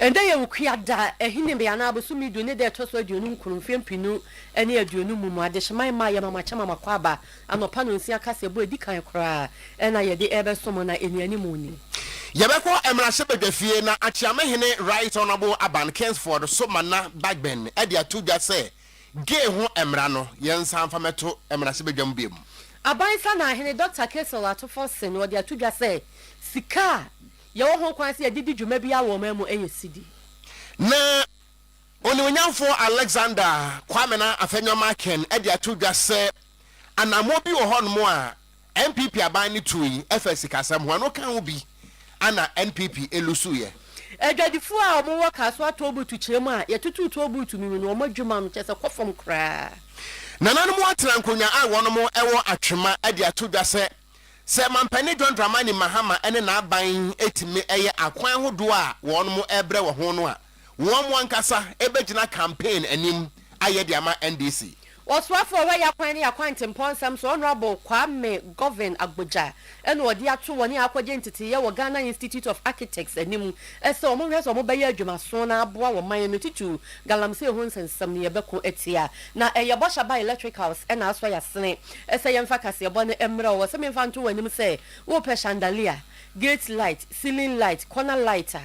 Ndɛ yɛ Ukua da, Ahinime anaa Bosome du ne da ɛtɔ so aduonu nkron, mfeɛ mpenu ne aduonum mu mu. Adehyeman mma yɛ mama kyɛ mama kɔ aba. Anɔpa nonsia kaseɛbɔ a ɛdi kan koraa na yɛde rebɛsom na nnianim nni. Yɛbɛkɔ mmarahyɛ badwafie na Akyeame hene Right Honourable Aban Kingsford Somana Bagbin de ato dwa sɛ gay ho mmara no yɛnsan mfa mmɛto mmarahyɛ badwa mu biom. Aban Sanaa hene Dɔkta Cassel Atufor Sen wɔde ato dwa sɛ sika a. Yɛwɔ ho kwan sɛ yɛde di dwuma biara wɔ ɔman mu yɛ sidi. Na Onimuonyamfoɔ Alexander Kwame na Afenyo Markin de ato dwa sɛ anammɔ bi wɔ hɔnom a NPP aban no tui fa sikasɛm ho, ɛno ka ho bi na NPP lusuiɛ. Adwadifoɔ a wɔwɔ Kasoa Tollbooth kyerɛ mu a yɛtotoo tollbooth no mu no, wɔn adwuma no kyerɛ sɛ kɔ fam koraa. Nananom atena nkonnwa a wɔnom wɔ Atwema de ato dwa sɛ Sɛ Mampanin John Dramani Mahama ne n'aban tumi yɛ akwan hodoɔ a wɔnom rebrɛ wɔ ho no a, wɔn mo ankasa bɛgyina campaign anim ayɛ de ama NDC. Ɔsoafoɔ a ɔyɛ akwan ne akwantempɔn nsɛm so Honourable Kwame Govin Agbodza na ɔde ato wɔn a akɔgye nteteeɛ wɔ Ghana Institute of Architects anim sɛ wɔn nhwɛ sɛ wɔn bɛyɛ adwumasoɔ na aboa wɔ man no titiriw galamsey ho nsɛnsɛm ne ɛbɛko atia na ɛyɛ bɔhyɛ aba electricals na asɔ yasene Ɛsɛ yɛmfa kaseɛbɔ no mmerɛ ɔwɔ sɛ memfa nto w'anim sɛ wopɛ chandelier, gate light, ceiling light, corner light a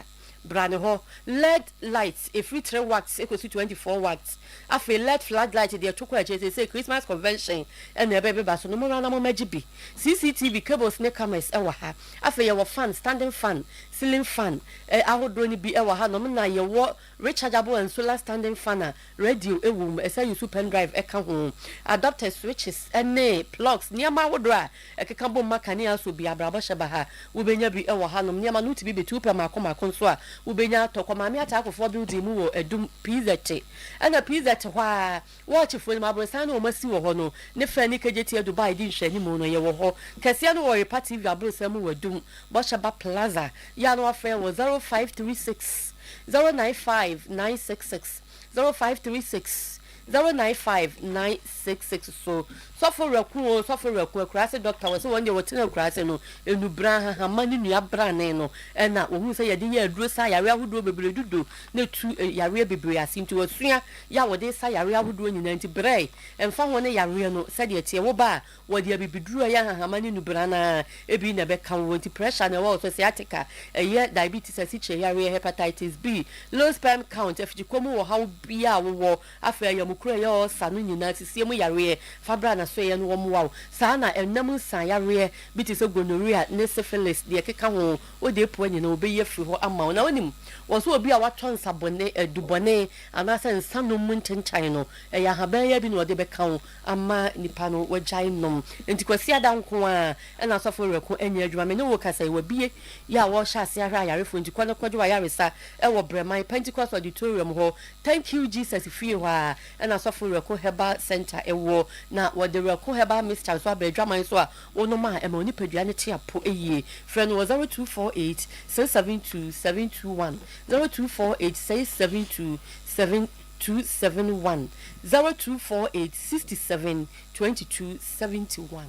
bra ne hɔ, led light ɛfiri three wacts kɔsi twenty four wacts, afei led flood light deɛ to kɔ akyire seesei Christmas convention na ɛbɛbeba so no mommra na mommɛgye bi, CCTV cables ne cameras wɔ ha, afei yɛwɔ fan, standing fan, ceiling fan, ɛ, ahodoɔ no bi wɔ hanom na yɛwɔ rechargeable and solar standing fan a Radio wom, ɛsɛ sɛ wusuw pen drive ka ho, adapters, switches, ne plugs, nneɛma ahodoɔ a ɛkeka bom ma kanea asɔ bi. Abrabɔ hyɛ ba ha. Wobɛnya bi wɔ hanom. Nneɛma no wotumi bɛtu pɛ mmaako mmaako nso a, wobɛnya atɔ. Kɔ Maame Ataakwofoɔ Building mu wɔ Adum, PZ. Ɛna PZ hɔ ara, wɔɔkyefoɔ no mu, aborosan no a wɔasi wɔ hɔ no ne fɛ ne Kejetia Dubai di nhwɛanimu no, yɛwɔ hɔ. Kɛseɛ no wɔ Repa TV aborosan mu wɔ Adum, Bɔhyɛba Plaza. Yɛ a na woafrɛ yɛn wɔ 0536. zero nine five nine six six zero five three six zero nine five nine six six so sɔfo rɛko o sɔfo rɛko akuraase dɔkta wɔ sɛ wɔn deɛ wɔtena akuraase no enubere ahahama ne nua brane no ɛna wɔhu sɛ yɛde yɛ aduro sa yareɛ ahodoɔ bebree dudu na etu eh, yareɛ bebree ase nti wɔsua yɛ a wɔde sa yareɛ ahodoɔ nyinaa nti brɛ ɛmfa ho ne yareɛ no sɛdeɛ teɛ wo ba a Wɔde abibiduru a ɛyɛ ahahamma ne nubran a ebi na ɛbɛka wo nti pressure na ɛwɔ wo so, sciatica, ɛyɛ diabetes asikyire yareɛ, hepatitis B, low sperm count, afikyikɔ mu ɔhaw biara a wowɔ, afei ayamukuro a ɛyɛ ulcer no nyinaa, sisie mu yareɛ, fa bra n'asoɛeɛ no wɔmmoa wo. Saa ara na ɛnam nsaa yareɛ bi te sɛ gonorrhea ne syphilis deɛ ɛkeka ho, wode apu a nyinaa wɔbɛyi afiri hɔ ama wo. Na wonim, wɔn sɛ obi a watɔ nsabɔne, adubɔne anaasɛ nsanom mu nkyenkyan no, ɛyɛ ahaban ya bi na wɔde bɛka wo. Ama nnipa no wɔagyae nom. Enti Kwasiada nko ara na asɔfo werɛ ko nyɛ adwuma. Me ne wo rekasa yi, wɔabue yɛ a wɔrehyɛ ase ahwɛ ayarefo, enti kɔ na kɔgye w'ayaresa wɔ Brɛman Pentecost Auditorium hɔ, Thank You Jesus fie hɔ ara na asɔfo werɛ ko herbal center wɔ, na wɔde werɛ ko herbal mixture nso aba adwaman so a wonom a ɛma wo nipadua no te apo yie. Frɛ no wɔ 0248 672 721, 0248 672 7. two seven one zero two four eight sixty seven twenty two seventy one.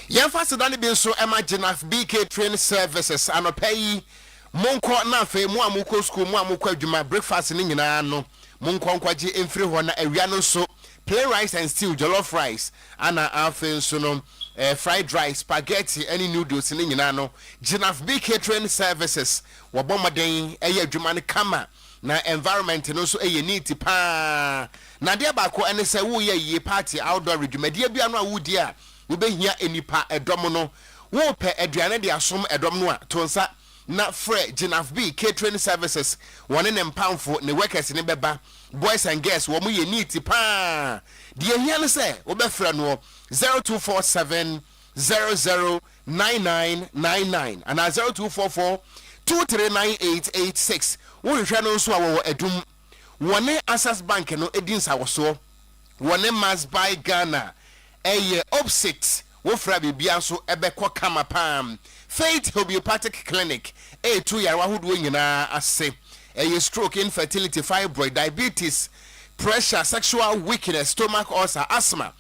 Yɛmfa aseda no bi nso ma Gynax BK Train Services, anɔpa yi monkɔ na afei mo a mokɔ sukuu, mo a mokɔ adwuma, breakfast no nyinaa no monkɔ nkɔgye mfiri hɔ na awia no nso plain rice and stew, jollof rice ana afei nso no fried rice, spaghetti ne noodles no nyinaa no Gynax BK Train Services wɔbɔ mmɔden yɛ adwuma no kama. Na environment no nso yɛ neat paa. Na adeɛ baako ɛne sɛ woreyɛ ayie party, outdoor dwumadie biara no a woredi a wobɛhia nnipa dɔm no, worepɛ aduane de asom dɔm no a, to nsa na frɛ Ginafb Catering Services, wɔne ne mpamfo, ne workers no bɛba, boys and girls, wɔyɛ neat paa. Deɛ ɛhia ne sɛ wobɛfrɛ noɔ, zero two four seven. zero zero nine nine nine nine anaa zero two four four two three nine eight eight six. Wohwehwɛ no nso a, wɔwɔ Adum. Wɔne Access Bank no di nsawɔsoɔ. Wɔne Must Buy Ghana yɛ opsit. Wofra biribiara nso bɛkɔ kama paa. Faith Hobeopathic Clinic retu yare ahodoɔ nyinaa ase. Ɛyɛ stroke, infertility, fibroid, diabetes, pressure, sexual weakness, stomach ulcer, asthma.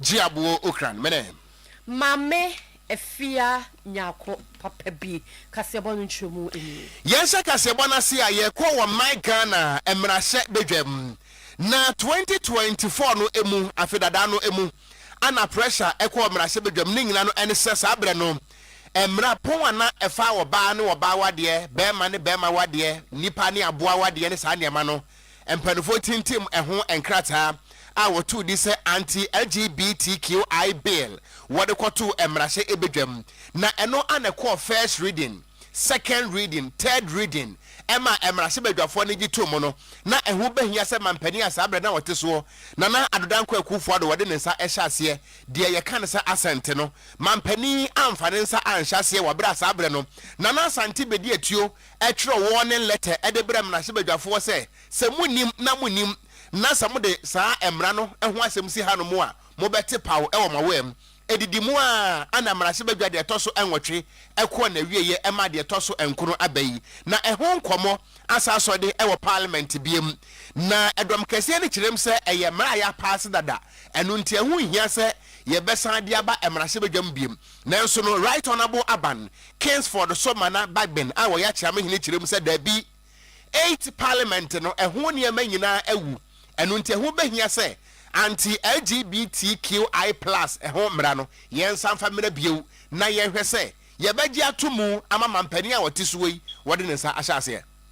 Gye aboɔ okran mene. Maame afia nyako papa bi kaseɛbɔ no nkyerɛmu nie. Yɛnhyɛ kaseɛbɔ no ase a yɛkɔ wɔ my Ghana mmarahyɛ badwam na twenty twenty four no mu afe dadaa no mu ana pressure ɛkɔɔ mmarahyɛ badwam ne nyina no ɛne sɛ saa berɛ no mmara pɔn ana ɛfa ɔbaa ne ɔbaa wadeɛ bɛɛma ne bɛɛma wadeɛ nipa ne aboa wadeɛ ne saa nneɛma no mpaninfoɔ tintim ɛho nkrataa a wɔtoo din sɛ Anti-LGBTQI Bill wɔde kɔtoo mmarahyɛ badwam na ɛno a na ɛkɔɔ First Reading, Second Reading, Third Reading ma mmarahyɛ badwafoɔ no gye toom no na ɛho bɛhia sɛ mampanin a saa berɛ na ɔte soɔ Nana Addo Dankwa Akuufo-Addo wɔde ne nsa hyɛ aseɛ deɛ yɛka no sɛ Asante no. Mampanin amfa ne nsa anhyɛ aseɛ wɔ berɛ a saa berɛ no Nana Asante bɛdi atuo twerɛ warning letter de brɛ mmarahyɛbadwafoɔ sɛ, sɛ monnim na monim na sɛ mode saa mmara no ho asɛm si hanom a, mobɛte paw wɔ mo awam. Ɛdidi mu ara na mmarahyɛbadwa deɛ ɛtɔ so nwɔtwe kɔɔ n'awieɛ ɛmaa deɛ ɛtɔ so nkono aba yi. Na ɛho nkɔmmɔ asan asɔde wɔ Parliament biom. Na dɔm kɛseɛ no kyerɛm sɛ ɛyɛ mmara a yɛapaase dada, ɛno nti ɛho nhia sɛ yɛbɛsan de aba mmarahyɛbadwam biom. Nanso no, Wright Ɔnabo Aban, Kingsford so ma na Bagben a ɔyɛ Akyerame hene kyerɛ mu sɛ dabi, Eighth Parliament no, ɛho nneɛma nyinaa awu, ɛno nti ɛho bɛhia sɛ anti-LGBTQI plus ho mmara no yɛnsa mfa mmra bio na yɛnhwɛ sɛ yɛbɛgye ato mu ama mampanin a ɔte soɔ yi wɔde ne nsa ahyɛ aseɛ.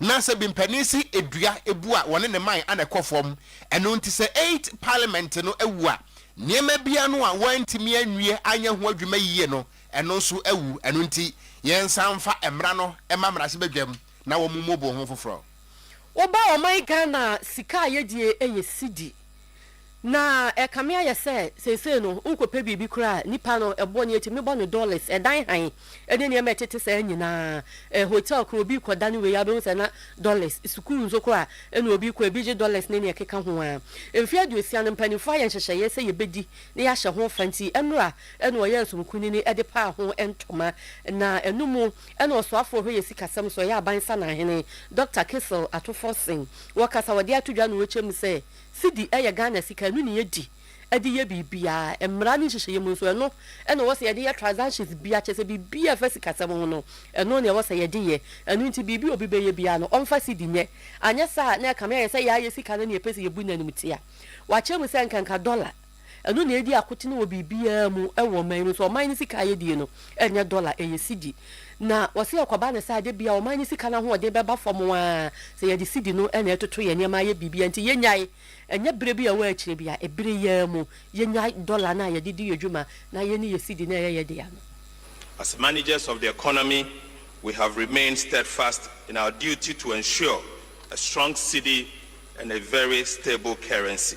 na sɛ bimpanin si dua bu a wɔne ne man na ɛkɔ fam. Ɛno nti sɛ Eighth Parliament no awu a, nneɛma bi ano a wɔantumi anwie anyɛ ho adwuma yie no, ɛno nso awu. Ɛno nti yɛnsan mfa mmara no mma mmarahyɛbadwam na wɔmmubu ho foforɔ. Woba ɔman Ghana a, sika a yɛdie yɛ Cedi. Na ɛkame ayɛ sɛ seesei no worekɔpɛ biribi koraa a nipa no ɛboɔ no yɛtumi bɔ no dollars, ɛdan hann ne nneɛma a ɛtete saa nyinaa, ɛ hotel koraa obi rekɔ da no wei a wobɛhu sɛ na dollars, sukuu nso koraa ɛna obi rekɔ ebi gye dollars ne nea ɛkeka ho ara. Mfeɛ aduosia no mpanimfoɔ ayɛ nhyehyɛeɛ sɛ yɛbɛdi na yɛahyɛ ho fa nti ɛnora na wɔyɛɛ Nsom Kunini de paa ho ntoma na ɛno mu Ɛna ɔsoafoɔ hwɛ yɛ sikasɛm nso, ɔyɛ aban sanan hene, Dɔkta Kissel Atufor Sing, wɔ kasa a ɔde ato dwa no wɔkyɛ mu sɛ, Cedi yɛ Ghana sika, ɛno na yɛdi de yɛ biribiara, mmara ne nhyehyɛeɛ mu nso, ɛno na ɛwɔ sɛ yɛde yɛ transactions biara, kyerɛ sɛ biribiara a ɛfa sikasɛm ho no, ɛno na ɛwɔ sɛ yɛde yɛ, ɛno nti biribi a obi bɛyɛ biara no, ɔmfa cedi nyɛ, anyɛ saa a na ɛkame ayɛ sɛ yɛayɛ sika no ne yɛpɛ sɛ yɛbu no animtia. Wɔakyɛ mu sɛ nkanka dɔla. Ɛno na edi akotene wɔ biribiara mu wɔ ɔman no so. Ɔman no sika a yedie no, ɛnyɛ dɔla, ɛyɛ sidi. Na wɔse ɛkɔba no saa, da biara ɔman no sika no ahoɔden bɛba fam ara, sɛ yɛde sidi no na ɛtoto yɛn nneɛma ayɛ biribiara nti, yɛnyae. Ɛnyɛ berɛ bi a ɛwɔ akyire biara, ɛbere yi ara mu, yɛnyae dɔla no a yɛde di yɛn dwuma, na yɛne yɛn sidi no a ɛyɛ yɛn dea no. As managers of the economy, we have remained steadfast in our duty to ensure a strong cedi and a very stable currency.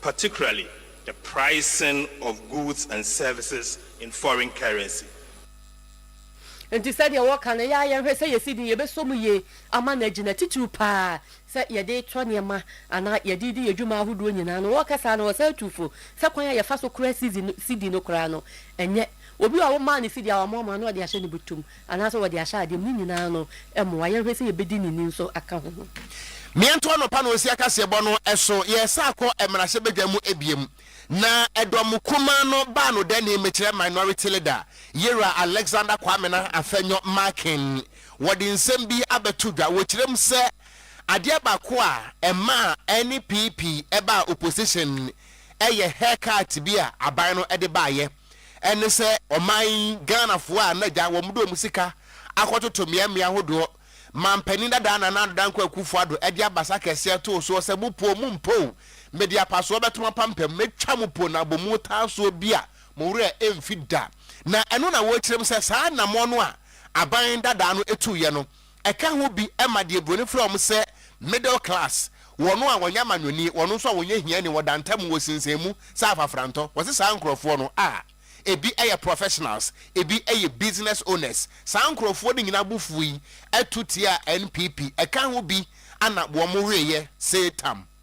particularly the pricing of goods and services in foreign currency. Enti sɛdeɛ wɔka no, yɛ ara yɛnhwɛ sɛ yɛsi din, yɛbɛsɔ mu yie ama no agyina, titiriw pa ara sɛ yɛde retɔ nneɛma anaa yɛde redi yɛn dwuma ahodoɔ nyinaa no. Wɔka saa no, wɔsan tu fo sɛ kwan a yɛfa so kora sidi no koraa no, ɛnyɛ obi a womaa no sidi a wamoamoa na ɔde ahyɛ ne bɔtɔ mu. Anaasɛ wɔde ahyɛ adeɛ mu. Ne nyinaa no mmoa. Yɛnhwɛ sɛ yɛbɛdi ne ni nso aka ho. Meɛnto anɔpa na ɔsi akaseɛbɔ no so yɛɛsa akɔ mmarahyɛ badwa mu biam na ɛdɔ mo kumaa no baa no dɛnee mekyerɛ minority leader yera alexander kwamena afɛnyɔ markin wɔde nsɛm bi abɛto dwa wɔkyerɛm sɛ adeɛ baako a ɛmaa ɛne pp ɛbaa opposition ɛyɛ haircut bi a aban no ɛde baayɛ ɛne sɛ ɔman Ghanafoɔ a na gya wɔn de wɔn sika akɔtoto mmeammea ahodoɔ ma mpanin dada Nana Addo Dankwa Akuffo Addo de abasa kɛseɛ too soɔ sɛ mo po mo mpo o, mede apasoɔ bɛto mo apampam, mɛtwa mo po na abɔ mu taasoɔ bi a mo werɛ ɛmfi da. Na ɛno na wɔrekyerɛm sɛ saa anammɔn no a aban dadaa no tuiɛ no, Ɛka ho bi ma deɛ buroni frɛ wɔn sɛ middle class, wɔn a wɔnyɛ amanyɔni, wɔn nso a wɔnyɛ hiani, wɔda ntam, wɔsinsɛn mu sɛ afafrantɔ. Wɔse saa nkorɔfoɔ no a, ebi yɛ professionals, ebi yɛ business owners. Saa nkorɔfoɔ no nyinaa bo fuui to tiaa NPP. Ɛka ho bi na wɔn weeɛ see tam.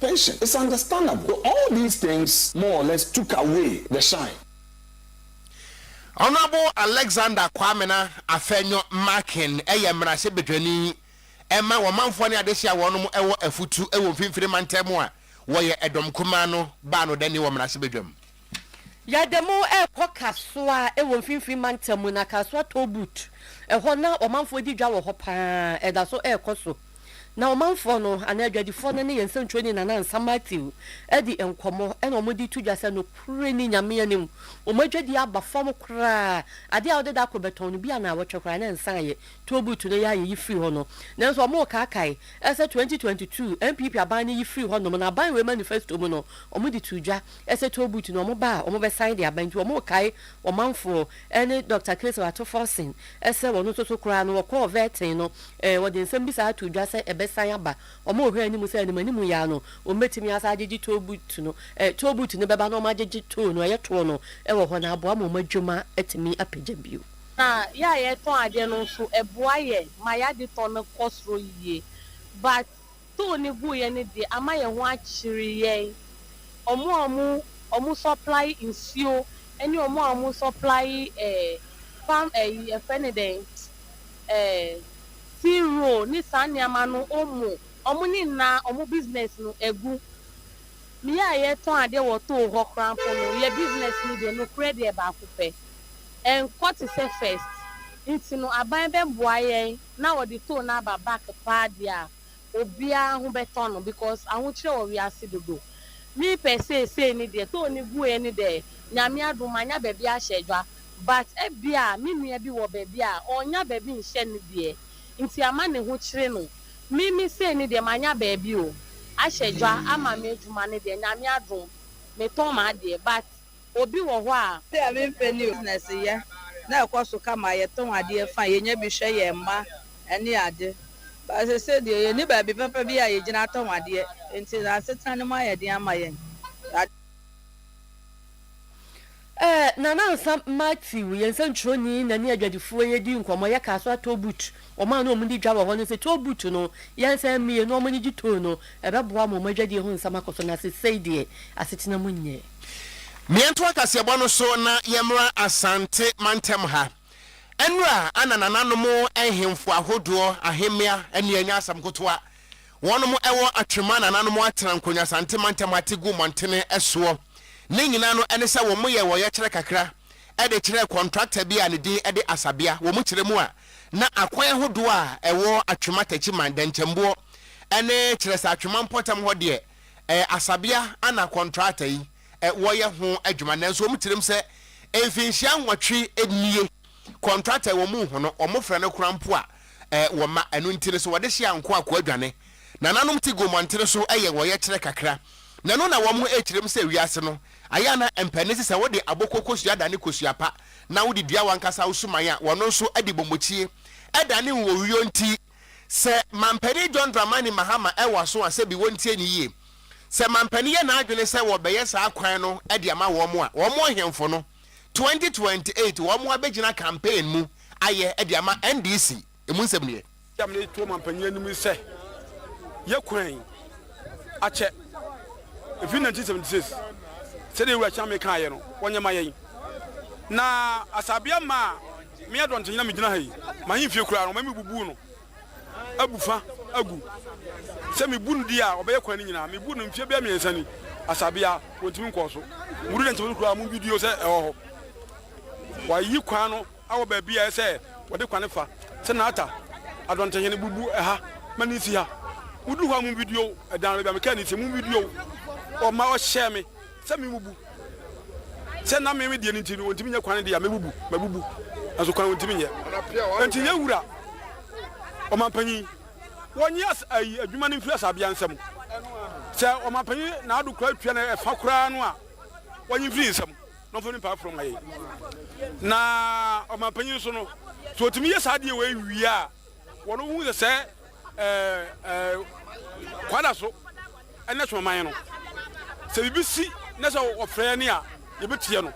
Patient, it's understandable though all these things more or less took away the shine. Honourable Alexander Kwamena Afenyo Markin yɛ mmarahyɛ badwani ma wɔmanfoɔ ne adehye a wɔnom wɔ Afutu wɔ Mfimfini Mantam mu a wɔyɛ ɛdɔm kumaa no baa no dani wɔ mmarahyɛ badwam. Yɛde mo rekɔ Kasoa wɔ mfimfini mantam mu na Kasoa toll booth ɛhɔ na ɔmanfoɔ di dwa wɔ hɔ paa ɛda so ɛrekɔ so na ɔmanfoɔ no anaa adwadifoɔ no ne yɛn sɛntuoni Nana Ansah Matthew adi nkɔmmɔ ɛna wɔde to dwa sɛ nokorɛ ni Nyame anim wɔn adwadie aba fam koraa adeɛ a wode da kɔ bɛtɔn no bi anawɔtwe koraa na ɛnsa ayɛ toll booth no yɛ a yɛyi firi hɔ no nanso wɔn rekaakae ɛsɛ 2022 NPP aban no yi firi hɔ nom na aban wei manifesto mu no wɔde too dwa Ɛsɛ Tobut na wɔba a wɔbɛsan de aba, enti wɔkae ɔmanfoɔ ne Dɔkta Kessel ato Forsen sɛ wɔn nso so koraa no wɔkɔɔ Vertain no, wɔde nsɛm bi saa too dwa sɛ ɛbɛsan aba. Wɔhwɛɛ anim sɛ animanimu yi ara no wɔbɛtumi asan agyegye Tobut no. Tobut no bɛba na wɔagyegye too no, ɛyɛ toɔ no wɔ hɔ no aboa ma wɔn adwuma atumi apagya bio. Na yɛ a yɛtɔn adeɛ no nso ɛboa yɛn ma yɛ adetɔn no kɔ soro yie. But Tow no guiɛ no deɛ ama yɛn ho akyere yɛn. Wɔn a wɔn wɔn supply nsuo ɛne wɔn a wɔn supply eh palm ɛyi yɛfrɛ no dɛn eh tea roll ne saa nneɛma no omo wɔn ne nnaa wɔn business no agu. Me yɛ a yɛtɔn adeɛ wɔ tow hɔ koraa mpo no yɛ business no deɛ nokorɛ deɛ baako pɛ ɛnkɔ te sɛ first. Nti no aban bɛboa yɛn. na ɔde too naba back paa deɛ a obiara ho bɛtɔ no because ahokyerɛ wɔ wiase dodo me pɛ seesei ne deɛ too no gueɛ ne dɛ nyame adom manya baabi ahyɛ dwa but ɛbia me nua bi wɔ baabi a ɔnnya baabi nhyɛ ne deɛ nti ama ne ho kyere no me me sei ne deɛ manya baabi o ahyɛ dwa ama me adwuma ne deɛ nyame adom me tɔn m'adeɛ but. Obi wɔ hɔ a. Ebi a mempɛ ne o. Business yɛ na ɛkɔ so kama, yɛtɔn adeɛ fine, yɛnya bi hwɛ yɛn mma ne ade. But seesei deɛ yɛnni baabi papa bi a yɛgyina tɔn adeɛ nti no asetena no mu ayɛ den ama yɛn. Yɛade. Eh, Nana Ansah Matthew yɛ nsɛntwerɛni na ne adwadifoɔ yɛdi nkɔmmɔ, yɛkaa so a toll booth, wɔn a na wɔn di dwa wɔ hɔ no se toll booth no yɛnsan mmue na wɔn ani gye toll no, ɛbɛboa ama wɔn adwadie ho nsɛm akɔ so na seesei deɛ asetena mu nyɛ. Meɛntoa kaseɛbɔ no so na yɛmmra Asante mantam ha. Ɛnora a na nananom nhemfo ahodoɔ, ahemmea, ne anya asɛm nkotoa. Wɔnom wɔ atwema nananom atena nkonya Asante mantam ha te gu mmɔntene soɔ. Ne nyinaa no ɛne sɛ wɔn yɛɛ ɔyɛkyerɛ kakra de kyerɛɛ kɔntrakta bi a ne din de Asabea. Wɔn kyerɛ mu a na akwan ahodoɔ a ɛwɔ atwema takyiman, dɛnkyɛmboɔ, ne kyerɛsɛ atwema mpɔtam hɔ deɛ ɛyɛ asabea ana kɔntrata yi wɔyɛ ho adwuma nanso wɔn tirim sɛ mfinhyia nwɔtwe nie kɔntrata yi wɔn nhu no wɔn frɛ no koraa mpo a wɔn ma ɛno nti no so wɔde hyɛ anko a koa dwane nananom ti gu mmɔntene so yɛ wɔyɛkyerɛ kakra na ɛno na wɔn kyirim sɛ wiase no ayɛ ana mpɛ ne sɛ wode aboko kosua dane kosua pa na wode dua wankasa wo suman a wɔn nso de bɔmmɔkyie dane wɔ wio nti Sɛ Mampanin John Dramani Mahama wɔ aso a, sɛbi wɔntie no yie. Sɛ Mampanin yɛ n'adwene sɛ wɔbɛyɛ saa kwan no de ama wɔn a, wɔn ɔhemfo no, twenty twenty eight wɔn abɛgyina campaign mu ayɛ de ama NDC. Emu nsɛm nie. Deɛ mede reto Mampanin anim ne sɛ, yɛ kwan yi akyɛ. Ɛfiri nineteen seventy six, sɛdeɛ Wura Kyame kaeɛ no, wɔnyɛ ma yɛn. Na Asabea mmaa a. Me yɛ dɔntenyi na migyina ha yi, m'ahemfie koraa no, wɔma mibubuw no abu fa agu. Sɛ mibu no di a, ɔbɛyɛ kwan no nyina. Mibu no mfe bɛyɛ miɛnsa ni, asabea, wontumi nkɔɔ so. Mudu dɛn tebea koraa a, mugye di o sɛ ɛwɔ hɔ. Wɔayiyi kwan no awɔ baabi a ɛyɛ sɛ wɔde kwan no fa. Sɛ Nata, adɔntehene, bubu ɛha ma no nsi ha. Mudu hɔ a, mugye di o, ɛdan baabi a mekaa no nsi, mugye di o, wɔma wɔhyɛɛ me. Sɛ mebubu, sɛ na me me deɛ no nti no ɔntumi nyɛ kwan deɛ a, mɛbubu, mabubu, nanso kwan ɔntumi nyɛ. Enti yɛn wura, ɔmampanyin, wɔnye as, ayi, adwuma no mfiri asabea nsam. Sɛ ɔmampanyin n'ado koraa atua no ɛfa koraa no a, wɔnye mfiri nsam na ɔmfa no mpaa foro ma yɛn. Na ɔmampanyin nso no, sɛ ɔtumi yɛ saa adeɛ wei wie a, Wɔrehu sɛ sɛ kwa da so na ɛso man no, sɛ biribi si na sɛ wɔfrɛ yɛn a, yɛbɛtie no.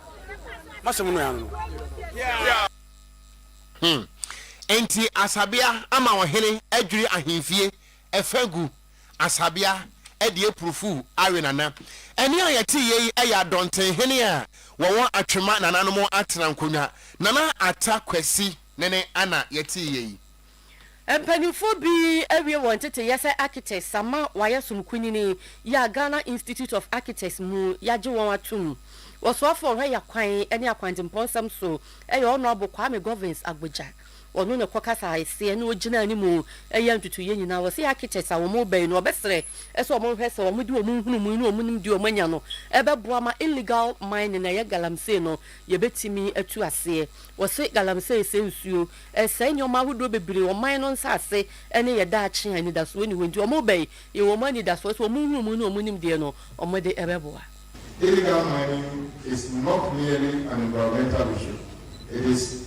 M'asɛm no ara no. Hmm. Enti Asabea ama ɔhene adwiri ahemfie ɛfã gu. Asabea de apurufuw awe Nana. Ɛnne a yɛte yei yɛ Adɔntenhene a wɔwɔ Atwema nananom atena nkonnwa. Nana Atta Kwasi. ne ne ana yɛtee yɛ yi. Mpanyimfoɔ bi awie wɔn nteteyɛ sɛ architects ama wɔayɛ som kunini yɛ a Ghana Institute of Architects mu yɛagye wɔn atom. Ɔsoafoɔ ɔhwɛ yɛ kwan ne akwantempɔn nsɛm so yɛ Honourable Kwame Govins Agbogya. Ɔno na ɔkɔ kasaeseɛ na ɔgyina anim yɛ ntutuiɛ nyinaa. Ɔse architects a wɔn reba yi no ɔbɛsrɛ sɛ wɔn nhwɛ sɛ wɔn de wɔn nhunumui ne wɔn nimdeɛ a wɔn anya no bɛboa ma illegal mining a ɛyɛ galamsey no Yɛbɛtumi atu aseɛ. Wɔse galamsey sɛe nsuo. Ɛresɛe nneɛma ahodoɔ bebree, ɔman no nsase ne yɛ daakye a anidasoɔ nni hɔ nti wɔn ba yi, yɛwɔ wɔn anidasoɔ sɛ wɔn nhunumu ne wɔn nimdeɛ no, wɔn de bɛboa. Illegal mining is not merely an environmental issue, it is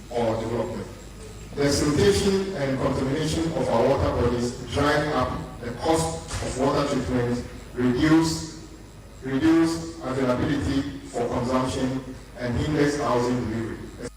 or development. The siltation and contamination of our water bodies drive up the cost of water treatment, reduce reduce availability for consumption and hinders housing delivery, esp.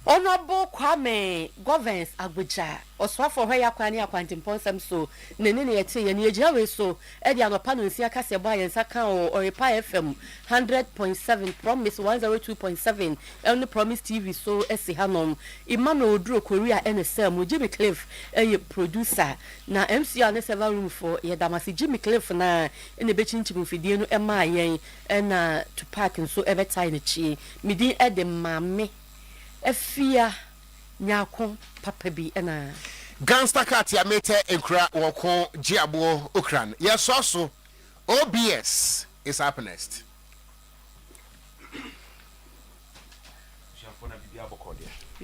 Honourable Kwame Govens Agbodza, Ɔsoafoɔ Hwɛ Yɛn Akwan ne Akwantempɔn Nsɛm So Nne ne Nea Ɛteeɛ no, Yɛgyina wei so Ɛde anɔpa nonsia kaseɛ bɔɔ yɛn nsa kaa wɔ Oripa FM hundred point seven, Promise one zero two point seven ne Promise TV so si hanom. Emmanuel Oduro Korea na ɛsaa mu. Jimmy Cliff yɛ producer. Na MCR ne server room foɔ, yɛda mo ase. Jimmy Cliff no ara na ɛbɛkyinkyim mfidie no maa yɛn ɛna Tupac nso bɛtae n'akyi. Me din de Maame Afia. nyaa ko papa bi anaa? Gangster cat ya metɛ nkura wɔ ko gye aboɔ okran yɛ sɔ so obs is up next.